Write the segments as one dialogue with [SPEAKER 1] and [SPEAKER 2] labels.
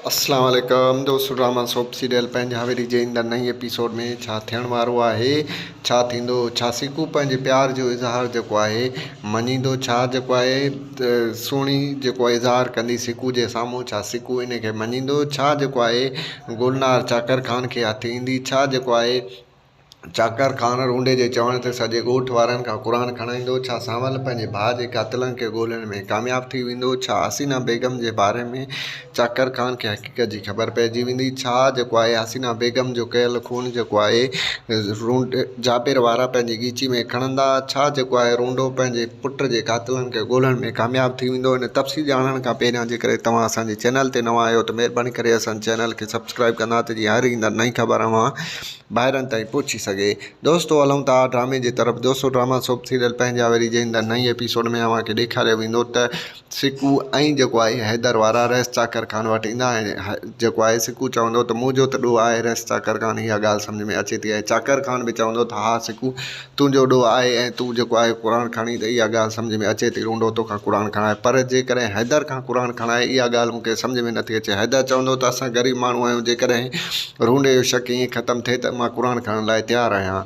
[SPEAKER 1] اسلام عليڪم دوستو ڊراما سوپ سيريل پنهنجا ويري جي ايندڙ نئين ايپيسوڊ ۾ ڇا ٿيڻ وارو آهي ڇا ٿيندو ڇا سيڪو پنهنجي پيار جو اظهار جيڪو آهي مڃيندو ڇا جيڪو آهي سهڻي جيڪو اظهار ڪندي سيڪو جي سامهون ڇا سيڪو ان کي مڃيندو ڇا جيڪو آهي گلنار چاڪر خان کي هٿ ايندي ڇا جيڪو آهي چاڪر خان رونڊي جي چوڻ تي سڄي ڳوٺ وارن کان قرآن کڻائيندو، ڇا سانول پنهنجي ڀاء جي قاتلن کي ڳولڻ ۾ ڪامياب ٿي ويندو، ڇا حسينه بيگم جي باري ۾ چاڪر خان کي حقيقت جي خبر پئجي ويندي، ڇا جيڪو آهي حسينه بيگم جو ڪيل خون جيڪو آهي رونڊي جابر وارا پنهنجي ڳيچي ۾ کڻندا، ڇا جيڪو آهي رونڊو پنهنجي پٽ جي قاتلن کي ڳولڻ ۾ ڪامياب ٿي ويندو، ان تفصيل ڄاڻڻ کان پهريان جيڪڏهن توهان اسان جي چينل تي نوان آهيو ته مهرباني ڪري اسان جي چينل کي سبسڪرائيب ڪندا ته جيئن هر ايندڙ نئين خبر اوهان ڀائرن تائين پهچي سگهي. دوستو هلون ٿا ڊرامي جي طرف دوستو ڊراما سوپ سيريل پنهنجا ويري جنهن ته نئين ايپيسوڊ ۾ اوهان کي ڏيکاريو ويندو ته سڪو ۽ جيڪو آهي حيدر وارا رئيس چاڪر خان وٽ ايندا ۽ جيڪو آهي سڪو چوندو ته منهنجو ته ڏوهه آهي رئيس چاڪر خان اها ڳالهه سمجهه ۾ اچي ٿي ۽ چاڪر خان به چوندو ته ها سڪو تنهنجو ڏوهه آهي ۽ تون جيڪو آهي قرآن کڻي ته اها ڳالهه سمجهه ۾ اچي ٿي روندو توکان قرآن کڻائي پر جيڪڏهن حيدر کان قرآن کڻائي اها ڳالهه مون کي سمجهه ۾ نٿي اچي حيدر چوندو ته اسان غريب ماڻهو آهيون جيڪڏهن روندي جو شڪ ائين ختم ٿئي ته مان قرآن کڻڻ لاء تيار آهيان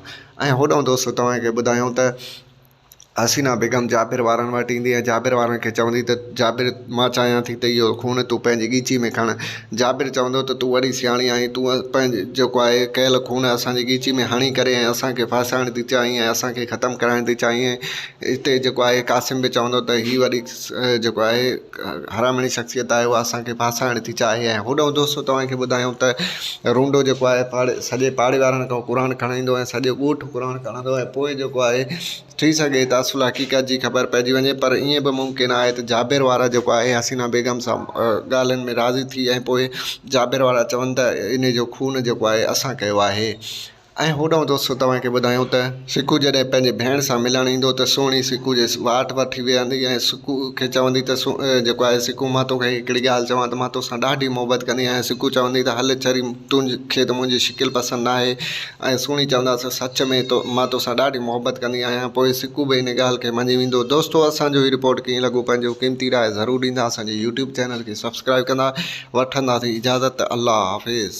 [SPEAKER 1] ۽ هوڏانهن دوست توهان کي ٻڌايائون ته حسينا بيگم جابر وارن وٽ ايندي ۽ جابر وارن کي چوندي ته جابر مان چاهيان ٿي ته اهو خون تون پنهنجي ڳيچي ۾ کڻ جابر چوندو ته تون وڏي سياڻي آهين، تون پنهنجي جيڪو آهي ڪيل خون اسان جي ڳيچي ۾ هڻي ڪري ۽ اسان کي ڦاسائڻ ٿي چاهين ۽ اسان کي ختم ڪرائڻ ٿي چاهين. اتي جيڪو آهي قاسم به چوندو ته هي وڏي جيڪو آهي حرامڻي شخصيت آهي اها اسان کي ڦاسائڻ ٿي چاهي ۽ هوڏهون دوستو توهان کي ٻڌايون ته رونڊو جيڪو آهي پاڙي سڄي پاڙي وارن کان قرآن کڻائيندو ۽ سڄو ڳوٺ قرآن کڻندو ۽ پوء جيڪو آهي ٿي سگهي ته اصل حقيقت جي خبر پئجي وڃي پر ائين به ممڪن آهي ته جابر وارا جيڪو آهي حسينا بيگم سان ڳالهين ۾ راضي ٿي ۽ پوء جابر وارا چون ته انهي جو خون جيڪو آهي اسان ڪيو آهي ۽ هوڏانهن دوستو توهان کي ٻڌايون ته سڪو جڏهن پنهنجي ڀيڻ سان ملڻ ايندو ته سهڻي سڪو جي واٽ وٺي ويهندي ۽ سڪو کي چوندي ته جيڪو آهي سڪو مان توکي هڪڙي ڳالهه چوان ته مان توسان ڏاڍي محبت ڪندي آهيان سڪو چوندي ته هل چري تون کي ته منهنجي شڪل پسند ناهي ۽ سهڻي چونداسين، سچ ۾ مان توسان ڏاڍي محبت ڪندي آهيان، پوء سڪو به ان ڳالهه کي مڃي ويندو. دوستو اسان جو هي رپورٽ ڪيئن لڳو پنهنجو قيمتي راء ضرور ڏيندا اسان جي يوٽيوب چينل کي سبسڪرائيب ڪندا وٺنداسين اجازت الله حافظ.